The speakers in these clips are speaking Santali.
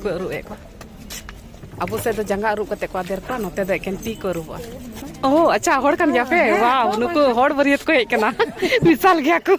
ᱠᱚ ᱟᱹᱨᱩᱵ ᱮᱫ ᱠᱚᱣᱟ ᱟᱵᱚ ᱥᱮᱫ ᱫᱚ ᱡᱟᱸᱜᱟ ᱟᱹᱨᱩᱵ ᱠᱟᱛᱮ ᱠᱚ ᱟᱫᱮᱨ ᱠᱚᱣᱟ ᱱᱚᱛᱮ ᱫᱚ ᱮᱠᱮᱱ ᱛᱤ ᱠᱚ ᱟᱹᱨᱩᱵᱚᱜᱼᱟ ᱳ ᱟᱪᱪᱷᱟ ᱦᱚᱲ ᱠᱟᱱ ᱜᱮᱭᱟ ᱯᱮ ᱵᱟᱣ ᱱᱩᱠᱩ ᱦᱚᱲ ᱵᱟᱹᱨᱭᱟᱹᱛ ᱠᱚ ᱦᱮᱡ ᱠᱟᱱᱟ ᱢᱮᱥᱟᱞ ᱜᱮᱭᱟ ᱠᱚ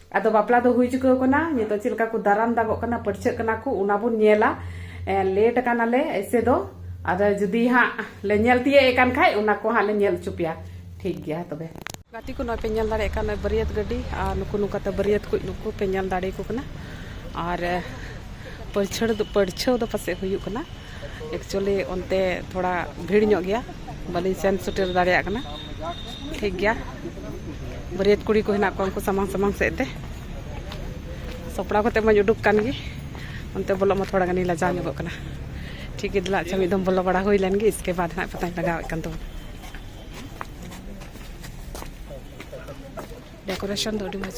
ᱟᱫᱚ ᱵᱟᱯᱞᱟ ᱫᱚ ᱦᱩᱭ ᱪᱩᱠᱟᱹᱣ ᱠᱟᱱᱟ ᱱᱤᱛᱚᱜ ᱪᱮᱫ ᱞᱮᱠᱟ ᱠᱚ ᱫᱟᱨᱟᱢ ᱫᱟᱜᱚᱜ ᱠᱟᱱᱟ ᱯᱟᱹᱨᱪᱷᱟᱹᱜ ᱠᱟᱱᱟ ᱠᱚ ᱚᱱᱟ ᱵᱚᱱ ᱧᱮᱞᱟ ᱞᱮᱴ ᱠᱟᱱᱟᱞᱮ ᱮᱭᱥᱮ ᱫᱚ ᱟᱫᱚ ᱡᱩᱫᱤ ᱦᱟᱸᱜ ᱞᱮ ᱧᱮᱞ ᱛᱤᱭᱟᱹᱜ ᱮ ᱠᱟᱱ ᱠᱷᱟᱡ ᱚᱱᱟ ᱠᱚ ᱦᱟᱸᱜ ᱞᱮ ᱧᱮᱞ ᱦᱚᱪᱚ ᱯᱮᱭᱟ ᱴᱷᱤᱠ ᱜᱮᱭᱟ ᱛᱚᱵᱮ ᱜᱟᱛᱮ ᱠᱚ ᱱᱚᱜᱼᱚᱭ ᱯᱮ ᱧᱮᱞ ᱫᱟᱲᱮᱭᱟᱜ ᱠᱟᱱᱟ ᱵᱟᱹᱨᱭᱟᱹᱛ ᱜᱟᱹᱰᱤ ᱟᱨ ᱱᱩᱠᱩ ᱱᱚᱝᱠᱟᱛᱮ ᱵᱟᱹᱨᱭᱟᱹᱛ ᱠᱚ ᱱᱩᱠᱩ ᱯᱮ ᱧᱮᱞ ᱫᱟᱲᱮᱭᱟᱠᱚ ᱠᱟᱱᱟ ᱟᱨ ᱯᱟᱹᱨᱪᱷᱟᱹᱲ ᱫᱚ ᱯᱟᱹᱨᱪᱷᱟᱹᱣ ᱫᱚ ᱯᱟᱥᱮᱡ ᱦᱩᱭᱩᱜ ᱠᱟᱱᱟ ᱮᱠᱪᱩᱭᱮᱞᱤ ᱚᱱᱛᱮ ᱛᱷᱚᱲᱟ ᱵᱷᱤᱲ ᱧᱚᱜ ᱜᱮᱭᱟ ᱵᱟᱹᱞᱤᱧ ᱥᱮᱱ ᱥᱮᱴᱮᱨ ᱫᱟᱲᱮᱭᱟᱜ ᱠᱟᱱᱟ ᱴᱷᱤᱠ ᱜᱮᱭᱟ ᱵᱟᱹᱨᱭᱟᱹᱛ ᱠᱩᱲᱤ ᱠᱚ ᱦᱮᱱᱟᱜ ᱠᱚᱣᱟ ᱩᱱᱠᱩ ᱥᱟᱢᱟᱝ ᱥᱟᱢᱟᱝ ᱥᱮᱫ ᱛᱮ ᱥᱟᱯᱲᱟᱣ ᱠᱟᱛᱮ ᱢᱟᱧ ᱩᱰᱩᱠ ᱠᱟᱱ ᱜᱮ ᱚᱱᱛᱮ ᱵᱚᱞᱚᱜ ᱢᱟ ᱛᱷᱚᱲᱟ ᱜᱟᱱᱤᱧ ᱞᱟᱡᱟᱣ ᱧᱚᱜᱚᱜ ᱠᱟᱱᱟ ᱴᱷᱤᱠ ᱜᱮ ᱫᱮᱞᱟ ᱟᱪᱪᱷᱟ ᱢᱤᱫ ᱫᱚᱢ ᱵᱚᱞᱚ ᱵᱟᱲᱟ ᱦᱩᱭ ᱞᱮᱱ ᱜᱮ ᱤᱥᱠᱮ ᱵᱟᱫ ᱦᱟᱸᱜ ᱯᱟᱛᱟᱧ ᱞᱟᱜᱟᱣᱮᱫ ᱠᱟᱱ ᱛᱟᱵᱚᱱᱟ ᱰᱮᱠᱳᱨᱮᱥᱚᱱ ᱫᱚ ᱟᱹᱰᱤ ᱢᱚᱡᱽ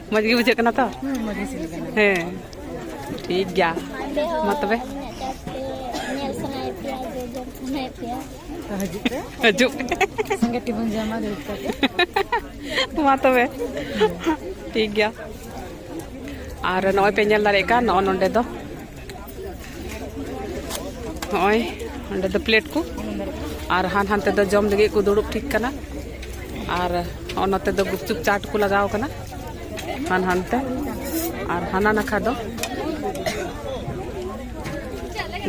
ᱢᱚᱡᱽ ᱜᱮ ᱵᱩᱡᱷᱟᱹᱜ ᱠᱟᱱᱟ ᱛᱚ ᱦᱮᱸ ᱴᱷᱤᱠ ᱜᱮᱭᱟ ᱢᱟ ᱛᱚᱵᱮ ᱦᱤᱡᱩᱜ ᱥᱚᱸᱜᱮ ᱴᱤ ᱵᱚᱱ ᱡᱚᱢᱟ ᱫᱩᱲᱩᱵ ᱠᱟᱛᱮ ᱢᱟ ᱛᱚᱵᱮ ᱴᱷᱤᱠ ᱜᱮᱭᱟ ᱟᱨ ᱱᱚᱜᱼᱚᱭ ᱯᱮ ᱧᱮᱞ ᱫᱟᱲᱮᱭᱟᱜ ᱠᱟᱱ ᱱᱚᱜᱼᱚ ᱱᱚᱰᱮ ᱫᱚ ᱱᱚᱜᱼᱚᱭ ᱚᱸᱰᱮ ᱫᱚ ᱯᱞᱮᱴ ᱠᱚ ᱟᱨ ᱦᱟᱱ ᱦᱟᱱᱛᱮ ᱫᱚ ᱡᱚᱢ ᱞᱟᱹᱜᱤᱫ ᱠᱚ ᱫᱩᱲᱩᱵ ᱴᱷᱤᱠ ᱠᱟᱱᱟ ᱟᱨ ᱱᱚᱛᱮ ᱫᱚ ᱜᱩᱯᱪᱩᱯ ᱪᱟᱴ ᱠᱚ ᱞᱟᱜᱟᱣ ᱠᱟᱱᱟ ᱦᱟᱱ ᱦᱟᱱᱛᱮ ᱟᱨ ᱦᱟᱱᱟ ᱱᱟᱠᱷᱟ ᱫᱚ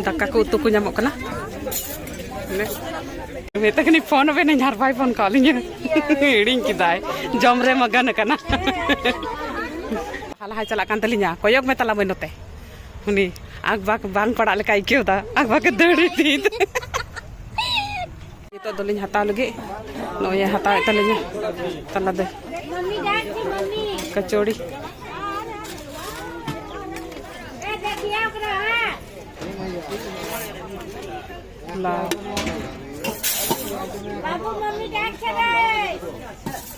ᱫᱟᱠᱟ ᱠᱚ ᱩᱛᱩ ᱠᱚ ᱧᱟᱢᱚᱜ ᱠᱟᱱᱟ ᱢᱮᱛᱟ ᱠᱟᱹᱱᱟᱹᱧ ᱯᱷᱳᱱ ᱟᱵᱮᱱᱟᱹᱧ ᱟᱨ ᱵᱟᱭ ᱯᱷᱳᱱ ᱠᱟᱜ ᱞᱤᱧᱟ ᱦᱤᱲᱤᱧ ᱠᱮᱫᱟᱭ ᱡᱚᱢ ᱨᱮ ᱢᱟᱜᱟᱱ ᱟᱠᱟᱱᱟ ᱞᱟᱦᱟ ᱞᱟᱦᱟ ᱪᱟᱞᱟᱜ ᱠᱟᱱ ᱛᱟᱹᱞᱤᱧᱟ ᱠᱚᱭᱚᱜ ᱢᱮ ᱛᱟᱞᱟᱝ ᱢᱟᱹᱧ ᱱᱚᱛᱮ ᱩᱱᱤ ᱟᱠᱵᱟᱠ ᱵᱟᱝ ᱯᱟᱲᱟᱜ ᱞᱮᱠᱟ ᱟᱹᱭᱠᱟᱹᱣ ᱫᱟ ᱟᱠᱵᱟᱠᱮ ᱫᱟᱹᱲ ᱤᱫᱤ ᱱᱤᱛᱚᱜ ᱫᱚᱞᱤᱧ ᱦᱟᱛᱟᱣ ᱞᱟᱹᱜᱤᱫ ᱱᱚᱜᱼᱚᱭ ᱦᱟᱛᱟᱣᱮᱫ ᱛᱟᱹᱞᱤᱧᱟ ᱛᱟᱞᱟ ᱫᱚ ᱠᱟᱪᱚᱲᱤ ᱞᱟᱣ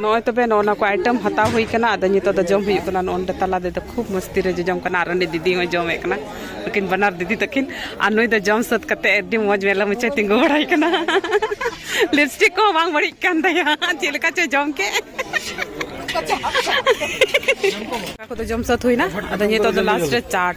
ᱱᱚᱜᱼᱚᱭ ᱛᱚᱵᱮ ᱱᱚᱜᱼᱚ ᱱᱚᱣᱟ ᱠᱚ ᱟᱭᱴᱮᱢ ᱦᱟᱛᱟᱣ ᱦᱩᱭ ᱠᱟᱱᱟ ᱟᱫᱚ ᱱᱤᱛᱚᱜ ᱫᱚ ᱡᱚᱢ ᱦᱩᱭᱩᱜ ᱠᱟᱱᱟ ᱱᱚᱜᱼᱚ ᱛᱟᱞᱟ ᱨᱮᱫᱚ ᱠᱷᱩᱵ ᱢᱚᱥᱛᱤ ᱨᱮ ᱡᱚᱡᱚᱢ ᱠᱟᱱᱟ ᱟᱨ ᱚᱸᱰᱮ ᱫᱤᱫᱤ ᱦᱚᱸᱭ ᱡᱚᱢᱮᱫ ᱠᱟᱱᱟ ᱱᱩᱠᱤᱱ ᱵᱟᱱᱟᱨ ᱫᱤᱫᱤ ᱛᱟᱹᱠᱤᱱ ᱟᱨ ᱱᱩᱭ ᱫᱚ ᱡᱚᱢ ᱥᱟᱹᱛ ᱠᱟᱛᱮ ᱟᱹᱰᱤ ᱢᱚᱡᱽ ᱢᱮᱞᱟ ᱢᱩᱪᱟᱹ ᱛᱤᱸᱜᱩ ᱵᱟᱲᱟᱭ ᱠᱟᱱᱟ ᱞᱤᱯᱥᱴᱤᱠ ᱠᱚ ᱵᱟᱝ ᱵᱟᱹᱲᱤᱡ ᱠᱟᱱ ᱛᱟᱭᱟ ᱪᱮᱫ ᱞᱮᱠᱟ ᱪᱚ ᱡᱚᱢ ᱠᱮᱫ ᱠᱚᱫᱚ ᱡᱚᱢ ᱥᱟᱹᱛ ᱦᱩᱭᱱᱟ ᱟᱫᱚ ᱱᱤᱛᱚᱜ ᱫᱚ ᱞᱟᱥᱴ ᱨᱮ ᱪᱟᱴ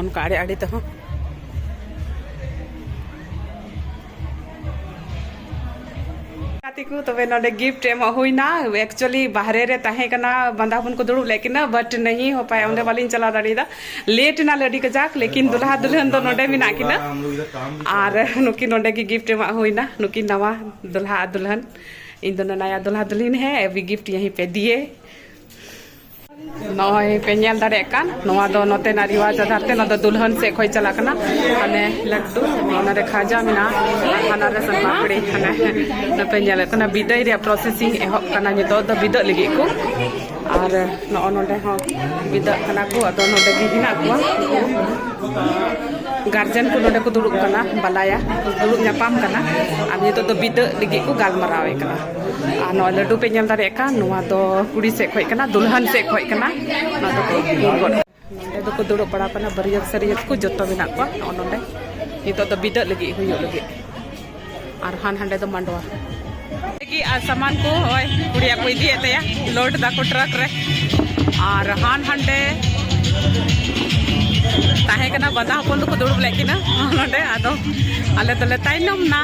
ᱚᱱᱠᱟ ᱟᱲᱮ ᱟᱲᱮ ᱛᱮᱦᱚᱸ ᱛᱤᱠᱩ ᱛᱚᱵᱮ ᱱᱚᱰᱮ ᱜᱤᱯᱷᱴ ᱮᱢᱚᱜ ᱦᱩᱭᱱᱟ ᱮᱠᱪᱩᱭᱟᱞᱤ ᱵᱟᱦᱨᱮ ᱨᱮ ᱛᱟᱦᱮᱸ ᱠᱟᱱᱟ ᱵᱟᱸᱫᱟ ᱦᱚᱯᱚᱱ ᱠᱚ ᱫᱩᱲᱩᱵ ᱞᱮᱫ ᱠᱤᱱᱟ ᱵᱟᱴ ᱱᱟᱦᱤ ᱦᱚ ᱯᱟᱭᱟ ᱚᱸᱰᱮ ᱵᱟᱞᱤᱧ ᱪᱟᱞᱟᱣ ᱫᱟᱲᱮᱭᱟᱫᱟ ᱞᱮᱴ ᱮᱱᱟ ᱞᱟᱹᱰᱤ ᱠᱟᱡᱟᱠ ᱞᱮᱠᱤᱱ ᱫᱩᱞᱦᱟ ᱫᱩᱞᱦᱟᱱ ᱫᱚ ᱱᱚᱰᱮ ᱢᱮᱱᱟᱜ ᱠᱤᱱᱟ ᱟᱨ ᱱᱩᱠᱤᱱ ᱱᱚᱰᱮ ᱜᱮ ᱜᱤᱯᱷᱴ ᱮᱢᱟᱜ ᱦᱩᱭᱱᱟ ᱱᱩᱠᱤᱱ ᱱᱟᱣᱟ ᱫᱩᱞᱦᱟ ᱟᱨ ᱫᱩᱞᱦᱟᱱ ᱤᱧ ᱫᱚ ᱱᱟᱭᱟ ᱫᱩᱞᱦᱟ ᱫᱩᱞᱦᱤᱱ ᱦᱮ ᱮᱵᱷᱤ ᱜᱤᱯᱷᱴ ᱭᱟᱦᱤ ᱯᱮ ᱫᱤᱭᱮ ᱱᱚᱜᱼᱚᱭ ᱯᱮ ᱧᱮᱞ ᱫᱟᱲᱮᱭᱟᱜ ᱠᱟᱱ ᱱᱚᱣᱟ ᱫᱚ ᱱᱚᱛᱮᱱᱟᱜ ᱨᱤᱣᱟᱡᱽ ᱟᱫᱷᱟᱨ ᱛᱮ ᱱᱚᱣᱟ ᱫᱚ ᱫᱩᱞᱦᱟᱱ ᱥᱮᱫ ᱠᱷᱚᱱ ᱪᱟᱞᱟᱜ ᱠᱟᱱᱟ ᱦᱟᱱᱮ ᱞᱟᱹᱰᱩ ᱚᱱᱟᱨᱮ ᱠᱷᱟᱡᱟ ᱢᱮᱱᱟᱜᱼᱟ ᱟᱨ ᱦᱟᱱᱟᱨᱮ ᱥᱚᱱ ᱯᱟᱯᱲᱤ ᱦᱟᱱᱮ ᱱᱚᱛᱮ ᱧᱮᱞᱚᱜ ᱠᱟᱱᱟ ᱵᱤᱫᱟᱹᱭ ᱨᱮᱭᱟᱜ ᱯᱨᱚᱥᱮᱥᱤᱝ ᱮᱦᱚᱵ ᱠᱟᱱᱟ ᱱᱤᱛᱚᱜ ᱫᱚ ᱵᱤᱫᱟᱹᱜ ᱞᱟᱹᱜᱤᱫ ᱠᱚ ᱟᱨ ᱱᱚᱜᱼᱚ ᱱᱚᱰᱮ ᱦᱚᱸ ᱵᱤᱫᱟᱹᱜ ᱠᱟᱱᱟ ᱠᱚ ᱟᱫᱚ ᱱᱚᱰᱮ ᱜᱮ ᱦᱮᱱᱟᱜ ᱠᱚᱣᱟ ᱜᱟᱨᱡᱮᱱ ᱠᱚ ᱱᱚᱰᱮ ᱠᱚ ᱫᱩᱲᱩᱵ ᱠᱟᱱᱟ ᱵᱟᱞᱟᱭᱟ ᱫᱩᱲᱩᱵ ᱧᱟᱯᱟᱢ ᱠᱟᱱᱟ ᱟᱨ ᱱᱤᱛᱚᱜ ᱫᱚ ᱵᱤᱫᱟᱹᱜ ᱞᱟᱹᱜᱤᱫ ᱠᱚ ᱜᱟᱞᱢᱟᱨᱟᱣᱮᱫ ᱠᱟᱱᱟ ᱟᱨ ᱱᱚᱣᱟ ᱞᱟᱹᱰᱩ ᱯᱮ ᱧᱮᱞ ᱫᱟᱲᱮᱭᱟᱜ ᱠᱟᱱ ᱱᱚᱣᱟ ᱫᱚ ᱠᱩᱲᱤ ᱥᱮᱫ ᱠᱷᱚᱡ ᱠᱟᱱᱟ ᱫᱩᱞᱦᱟᱱ ᱥᱮᱫ ᱠᱷᱚᱡ ᱠᱟᱱᱟ ᱱᱚᱣᱟ ᱫᱚᱠᱚ ᱫᱩᱞ ᱜᱚᱫ ᱱᱚᱰᱮ ᱫᱚᱠᱚ ᱫᱩᱲᱩᱵ ᱵᱟᱲᱟ ᱠᱟᱱᱟ ᱵᱟᱹᱨᱭᱟᱹᱛ ᱥᱟᱹᱨᱭᱟᱹᱛ ᱠᱚ ᱡᱚᱛᱚ ᱢᱮᱱᱟᱜ ᱠᱚᱣᱟ ᱱᱚᱜᱼᱚ ᱱᱚᱰᱮ ᱱᱤᱛᱚᱜ ᱫᱚ ᱵᱤᱫᱟᱹᱜ ᱞᱟᱹᱜᱤᱫ ᱦᱩᱭᱩᱜ ᱞᱟᱹᱜᱤᱫ ᱟᱨ ᱦᱟᱱ ᱦᱟᱸᱰᱮ ᱫᱚ ᱢᱟᱰᱣᱟ ᱞᱟᱹᱜᱤᱫ ᱟᱨ ᱥᱟᱢᱟᱱ ᱠᱚ ᱦᱚᱸᱜᱼᱚᱭ ᱠᱩᱲᱤᱭᱟᱜ ᱠᱚ ᱤᱫᱤᱭᱮᱫ ᱛᱟᱭᱟ ᱞᱳᱰ ᱫᱟᱠᱚ ᱴᱨᱟᱠ ᱨᱮ ᱟᱨ ᱦᱟᱱ ᱦᱟᱸᱰᱮ ᱛᱟᱦᱮᱸ ᱠᱟᱱᱟ ᱵᱟᱫᱟ ᱦᱚᱯᱚᱱ ᱫᱚᱠᱚ ᱫᱩᱲᱩᱵ ᱞᱮᱫ ᱠᱤᱱᱟ ᱱᱚᱰᱮ ᱟᱫᱚ ᱟᱞᱮ ᱫᱚᱞᱮ ᱛᱟᱭᱱᱚᱢ ᱱᱟ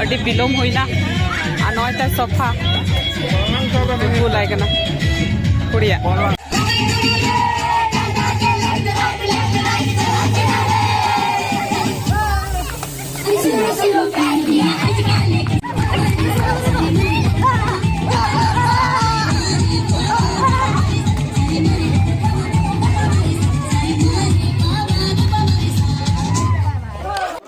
ᱟᱹᱰᱤ ᱵᱤᱞᱚᱢ ᱦᱩᱭᱱᱟ ᱟᱨ ᱱᱚᱜᱼᱚᱭ ᱛᱚ ᱥᱚᱯᱷᱟ ᱠᱩᱞᱟᱭ ᱠᱟᱱᱟ ᱠᱩᱲᱤᱭᱟᱜ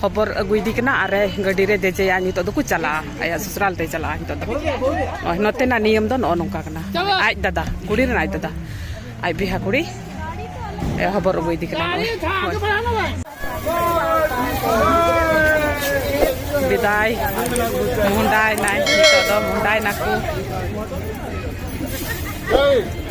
ᱠᱷᱚᱵᱚᱨ ᱟᱹᱜᱩᱭᱮᱫᱮ ᱠᱟᱱᱟ ᱟᱨ ᱜᱟᱹᱰᱤᱨᱮ ᱫᱮᱡᱮᱭᱟ ᱱᱤᱛᱚᱜ ᱫᱚᱠᱚ ᱪᱟᱞᱟᱜᱼᱟ ᱟᱭᱟᱜ ᱥᱚᱥᱩᱨᱟᱞ ᱛᱮᱭ ᱪᱟᱞᱟᱜᱼᱟ ᱱᱤᱛᱚᱜ ᱫᱚ ᱱᱚᱛᱮᱱᱟᱜ ᱱᱤᱭᱚᱢ ᱫᱚ ᱱᱚᱜᱼᱚ ᱱᱚᱝᱠᱟ ᱠᱟᱱᱟ ᱟᱡ ᱫᱟᱫᱟ ᱠᱩᱲᱤ ᱨᱮᱱ ᱟᱡ ᱫᱟᱫᱟ ᱟᱡ ᱵᱤᱦᱟ ᱠᱩᱲᱤ ᱦᱚᱵᱚᱨ ᱟᱹᱜᱩᱭᱮᱫᱮ ᱠᱟᱱᱟ ᱵᱤᱫᱟᱭ ᱢᱩᱦᱩᱸᱰᱟᱭᱮᱱᱟᱭ ᱱᱤᱛᱚᱜ ᱫᱚ ᱢᱩᱦᱩᱸᱰᱟᱭᱮᱱᱟᱠᱚ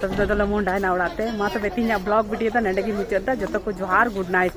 ᱛᱚᱵᱮ ᱫᱚᱞᱮ ᱢᱚᱦᱰᱟᱭᱱᱟ ᱚᱲᱟᱜ ᱛᱮ ᱢᱟ ᱛᱚᱵᱮ ᱛᱤᱦᱤᱧᱟᱜ ᱵᱞᱚᱜ ᱵᱷᱤᱰᱤᱭᱳ ᱫᱚ ᱱᱚᱰᱮ ᱜᱮ ᱢᱩᱪᱟᱹᱫ ᱫᱟ ᱡᱚᱛᱚ ᱠᱚ ᱡᱚᱦᱟᱨ ᱜᱩᱰ ᱱᱟᱭᱤᱴ